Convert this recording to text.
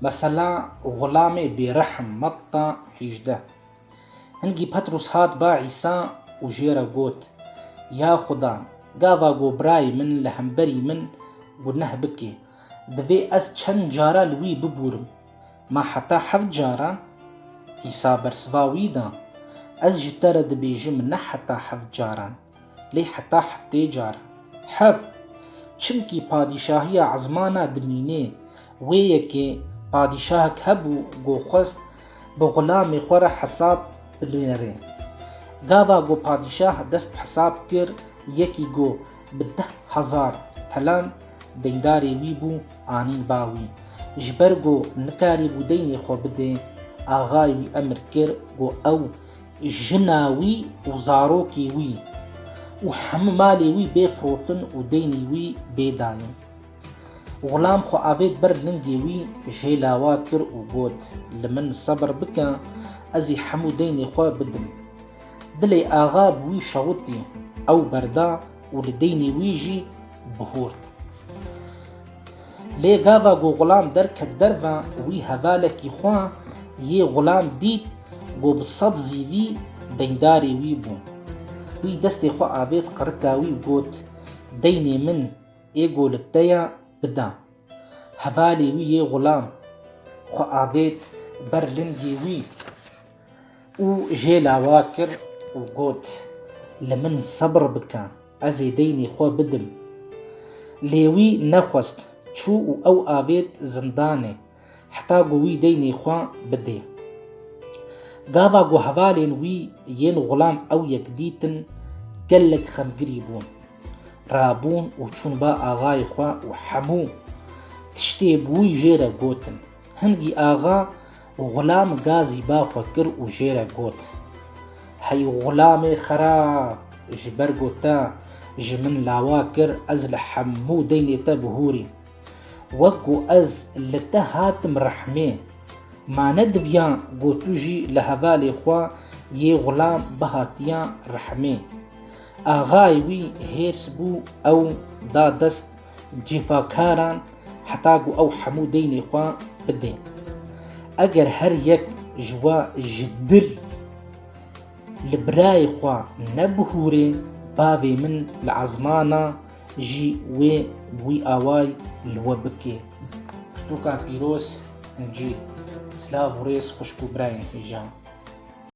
Mesela Xulamê Bêrehm, Matta hîjdeh. Hingî Petrûs hat ba Îsa û jê re got, Ya Xuda, gava ku birayê min li hemberî min guneh bike, divê ez çend cara li wî bibûrim? Ma heta heft caran? Îsa bersiva wî da, Ez ji te re dibêjim ne heta heft caran, Lê heta heftê car. Heft. Çimkî padîşahiya ezmana dimînê. Wê yekê padîşahek hebû go xwest bi xulamê xwe re hesab binêre. Gava go padîşah dest bi hesab kir yekî go bi deh hezar telan deyndarê wî bû anîn ba wî. Ji ber go nikarîbû deynê xwe bidê, axayê wî emir kir go ew Jina wî û zarokê wî û hemû malê wî bê firotin û deynê wî bê dayîn. Xulam xwe avêt ber lingê wî jê lawa kir û got, Li min sebir bike, ez ê hemû deynê xwe bidim. Dilê axa bi wî şewitî, ew berda û li deynê wî jî bihort. Lê gava ku Xulam derket derve wî hevalekî xwe yê Xulam dît ku bi sed zîvî deyndarê wî bû. Wî destê xwe avêt qirika wî û got, Deynê min ê ku li te ye bide. Hevalê wî yê Xulam xwe avêt ber lingê wî û jê lawa kir û got, Li min sebr bike. Ez ê deynê xwe bidim. Lê wî nexwest, çû û ew avêt zindanê heta ku wî deynê xwe bidê. Gava ku hevalên wî yên Xulam ew yek dîtin gelek xemgirî bûn. Rabûn û çûn ba axayê xwe û hemû tiştê bi wî jê re gotin. Hingî axa Xulam gazî ba xwe kir û jê re got, Hey Xulamê xerab! Ji ber ku te ji min lawa kir ez li hemû deynê te bihûrîm. Wek ku ez li te hatim rehmê, ma ne diviya ku tu jî li hevalê xwe yê Xulam bihatiya rehmê. Axayê wî hêrs bû ew da dest Cîfakaran heta ku ew hemû deynê xwe bidên. Eger her yek ji we ji dil li birayê xwe nebihûrê bavê min li ezmana jî wê wî away li we bike. Pirtûka pîroz, Încîl. Silav û rêz xwişk û birayên hêja.